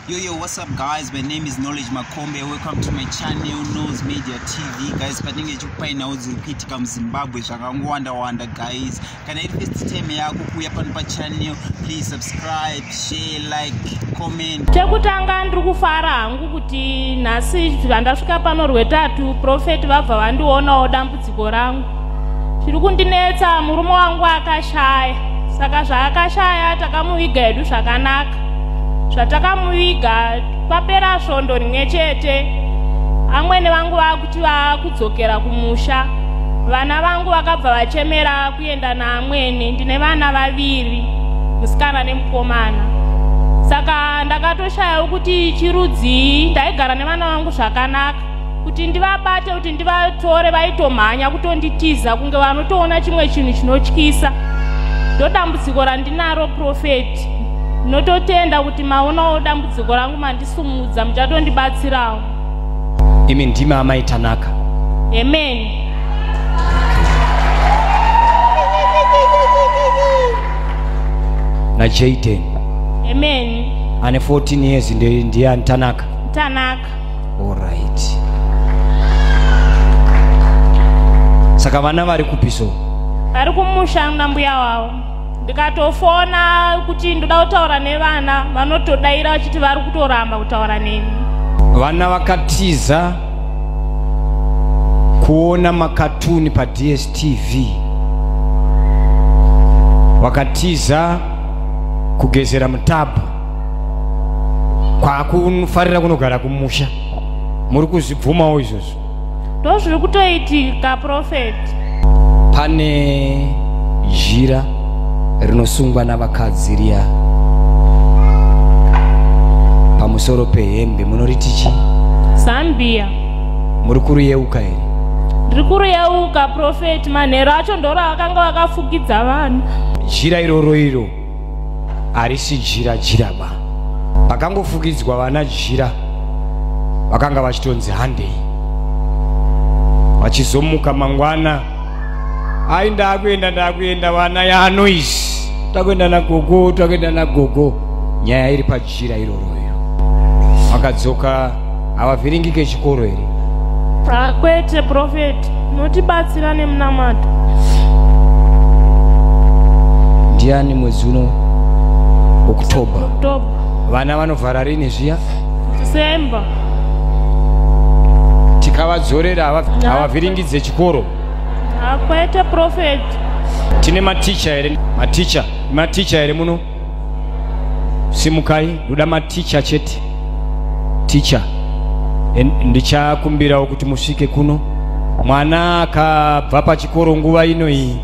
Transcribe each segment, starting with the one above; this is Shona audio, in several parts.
Yo, yo, what's up guys? My name is Knowledge Makombe. Welcome to my channel, Nose Media TV. Guys, patinge chikupai nhau dziri kuitika muZimbabwe zvakangowanda-wanda guys. Kana iri first time yako kuuya pano pachannel, please subscribe, share, like, comment. Chekutanga ndiri kufara hangu kuti nhasi vandasvika pano rwetatu, Prophet vabva vandionawo dambudziko. dambudziko rangu chiri kundinetsa murume wangu akashaya saka zvaakashaya takamuviga hedu zvakanaka zvatakamuviga papera svondo rimwe chete amwene vangu vakuti vakudzokera kumusha vana vangu vakabva vachemera kuenda naamwene ndine vana vaviri musikana nemukomana saka ndakatoshaya kuti chirudzii ndaigara nevana vangu zvakanaka kuti ndivabate kuti ndivatore vaitomhanya kutonditiza kunge vanotoona chimwe chinhu chinotyisa ndodambudziko randinaro profeti ndinototenda kuti maonawo dambudziko rangu mandisumudza muchatondibatsirawo imi ndimi amai tanaka amen najaden amen ane 14 years ndiye ndiye anitanaka tanaka orit saka vana vari kupi so vari kumusha nambuya wavo ndikatofona kuti ndoda kutaura nevana vanotodaira vachiti vari kutoramba kutaura neni vana vakatiza kuona makatuni padstv vakatiza kugezera mutabhu kwakufarira kunogara kumusha muri kuzvibvumawo izvozvo ndo zviri kutoitika profeti pane jira rinosungwa navakadzi riya pamusoro pehembe munoriti chi zambia muri kuriyeuka here ndiri kuriyeuka profeti manhero acho ndoro akanga vakafukidza vanhu jira iroro iro harisi jira jira ba pakangofukidzwa vana jira vakanga vachitonzi handei vachizomuka mangwana ai ndakuenda ndakuenda vana yanoise takuenda nagogo takuenda nagogo nyaya iri pa zhira iroro iro vakadzoka havavhiringike chikoro here ah, kwete profeti notibatsira nemunamato ndiani mwedzi uno oktober vana vanovhara rini zviya december tikavadzorera havavhiringidze chikoro akwete ah, profeti tine maticha here maticha maticha here muno simukai ndoda maticha chete ticha ndichakumbirawo kuti musvike kuno mwana akabva pachikoro nguva ino iyi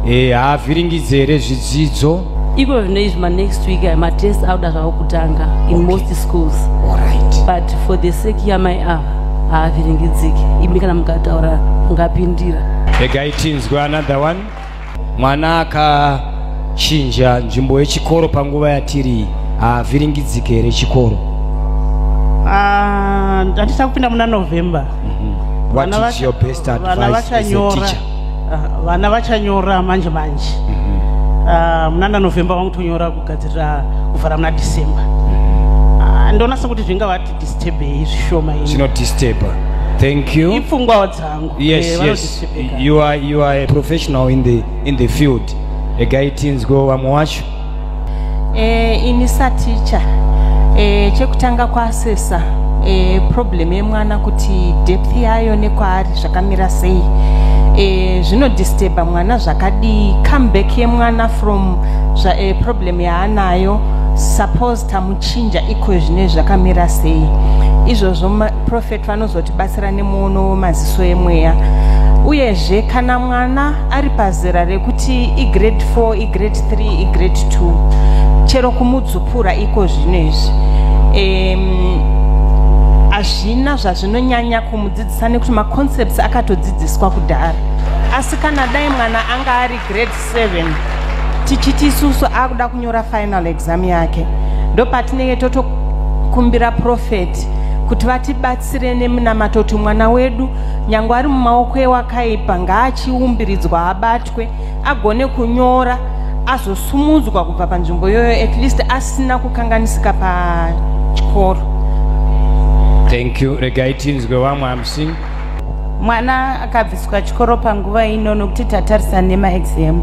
e, haavhiringidze here zvidzidzo iko zvino izvi manext week eh, matest auda zvavo kutanga in okay. most schools right. but for the sake yamai ava ah, haavhiringidziki imi kana mukataura mungapindira regai tinzwe another one mwana akachinja nzvimbo yechikoro panguva yatiri havhiringidzike here chikoro ah, handisa kupinda muna november mhm. vana vachanyora ah, manje manje mhm. ah, munana november vangutonyora kugadzirira kuvhara muna december mhm. ndonasa kuti zvingavati disturbei zvishoma inodisturba thank you Yes, eh, yes. You are you are a professional in the in the field. A guy teens go vamwe wacho. Eh, ini sa teacher. Eh, chekutanga kwaasesa eh, problem yemwana kuti depth yayo nekwaari zvakamira sei. Eh, zvinodisturba mwana zvakadii comeback yemwana from zva, eh, problem yaanayo suppose tamuchinja iko zvine zvakamira sei izvozvo prophet vanozotibatsira nemuono wemaziso emweya uyezve kana mwana ari pazera rekuti igrade 4 igrade 3 igrade 2 chero kumudzupura iko zvino izvi hazvina um, zvazvinonyanya kumudzidzisa nekuti maconcepts akatodzidziswa kudhara asi kana dai mwana anga ari grade 7 tichiti isusu akuda kunyora final exam yake ndopatinenge totokumbira profeti kuti vatibatsire nemunamato kuti mwana wedu nyange ari mumaoko ewakaipa ngaachiumbiridzwa abatwe agone kunyora azosumudzwa kubva panzvimbo iyoyo at least asina kukanganisika pachikoro thank you regai tinzwe vamwe amusini mwana akabviswa chikoro panguva ino nokuti tatarisa nemaexam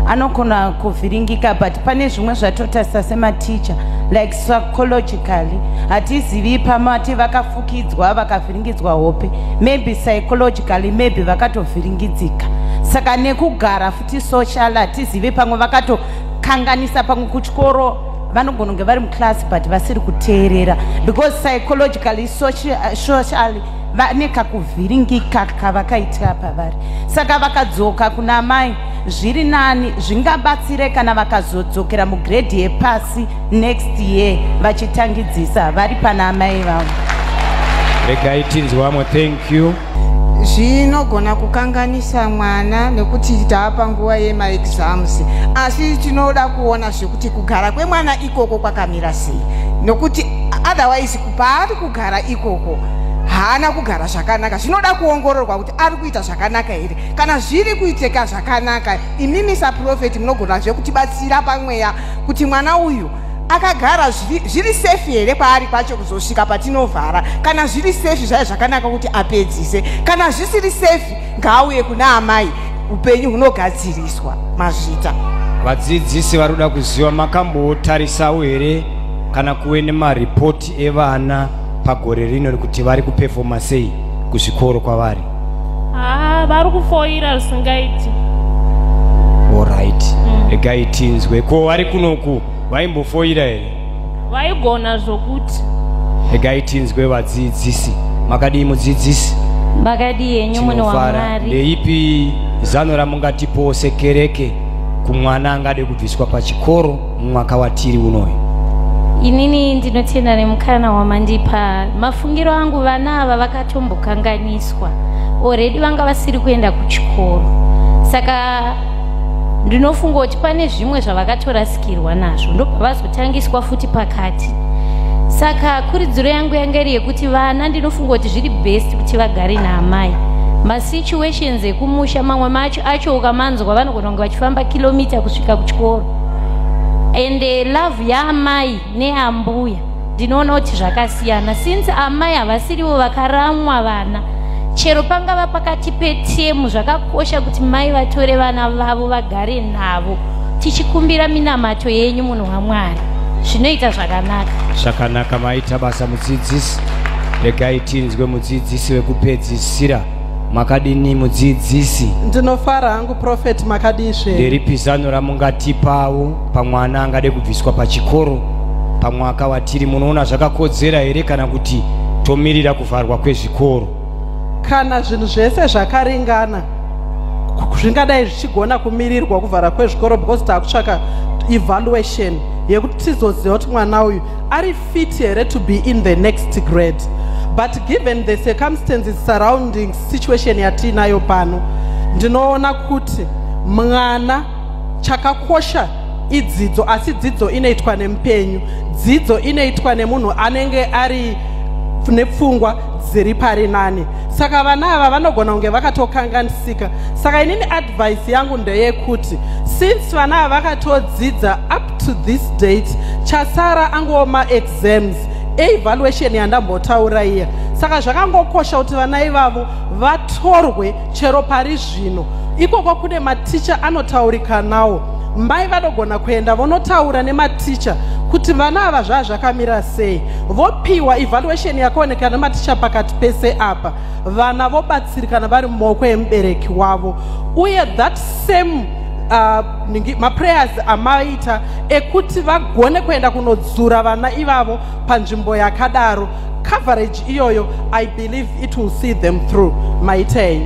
anogona kuvhiringika but pane zvimwe zvatotarisa sematicha like psychologically hatizivi pamati vakafukidzwa vakavhiringidzwa hope maybe psychologically maybe vakatovhiringidzika saka nekugara futi social hatizivi pamwe vakatokanganisa pamwe kuchikoro vanogona kunge vari muclass but vasiri kuteerera because psychologically socially vane kakuvhiringika kavakaitira pavari saka vakadzoka kuna amai zviri nani zvingabatsire kana vakazodzokera mugredhi yepasi next year vachitangidzisa vari pana amai vavo regai tinzi vamwe thank you zvinogona kukanganisa mwana nekuti taapa nguva yemaexams asi tinoda kuona zvekuti kugara kwemwana ikoko kwakamira sei nokuti otherwise paari kugara ikoko haana kugara zvakanaka zvinoda kuongororwa kuti ari kuita zvakanaka here kana zviri kuiteka zvakanaka imimi saprofeti munogona zve kutibatsira pamweya kuti mwana uyu akagara zviri sefi here paari pacho kuzosvika patinovhara kana zviri sefi zvaive zvakanaka kuti apedzise kana zvisiri sefi ngaauye kuna amai upenyu hunogadziriswa mazvita vadzidzisi vari kuda kuziva makambotarisawo here kana kuve nemaripoti evana pagore rino kuti vari kupefoma sei kuzvikoro kwavari haa ah, vari kufoira zvisingaiti orit mm. regai tinzwe ko vari kunoku vaimbofoira here vaigona zvokuti regai tinzwe vadzidzisi makadii mudzidzisi makadii henyu mune wamwari ndeipi zano ramungatipowo sekereke kumwana angade kubviswa pachikoro mumwaka watiri unoyo inini ndinotenda nemukana wamandipa mafungiro angu vana ava vakatombokanganiswa oredi vanga vasiri kuenda kuchikoro saka ndinofunga kuti pane zvimwe zvavakatorasikirwa nazvo ndobva vazotangiswa futi pakati saka kuridziro yangu yanga iri yekuti vana ndinofunga kuti zviri best kuti vagare naamai masituations ekumusha mamwe macho acho ukamanzwa vanogona kunge vachifamba kilomita kusvika kuchikoro and eh, love yaamai neambuya ndinoona kuti zvakasiyana since amai havasirivo vakaramwa vana chero pangava pakati petemu zvakakosha kuti mai vatore vana vavo vagare navo tichikumbira minamato yenyu munhu wamwari zvinoita zvakanaka zvakanaka maita basa mudzidzisi regai tinzwe mudzidzisi wekupedzisira makadini mudzidzisi ndinofara hangu profeti makadizve ndiripi zano ramungatipawo pamwana angade kubviswa pachikoro pamwaka watiri munoona zvakakodzera here kana kuti tomirira kuvharwa kwezvikoro kana zvinhu zvese zvakaringana zvingadai zvichigona kumirirwa kuvhara kwezvikoro because taakutsvaka evaluation yekuti tizoziva kuti mwana uyu ari fit here to be in the next grade but given the circumstances surrounding situation yatiinayo pano ndinoona kuti mwana chakakosha idzidzo asi dzidzo inoitwa nemupenyu dzidzo inoitwa nemunhu anenge ari nepfungwa dziri pari nani saka vana ava vanogona kunge vakatokanganisika saka inini advice yangu ndeyekuti since vana ava vakatodzidza up to this date chasara angowo maexams eevaluation yandambotaura iya saka zvakangokosha kuti vana ivavo vatorwe chero parizvo zvino ikoko kune maticha anotaurikanawo mai vanogona kuenda vonotaura nematicha kuti vana ava zvaa zvakamira sei vopiwa evaluation yakaonekana nematicha pakati pese apa vana vobatsirikana vari mumaoko emubereki wavo uye that same uh, maprayers amaita ekuti vagone kuenda kunodzura vana ivavo panzvimbo yakadaro coverage iyoyo i believe it will see them through maitei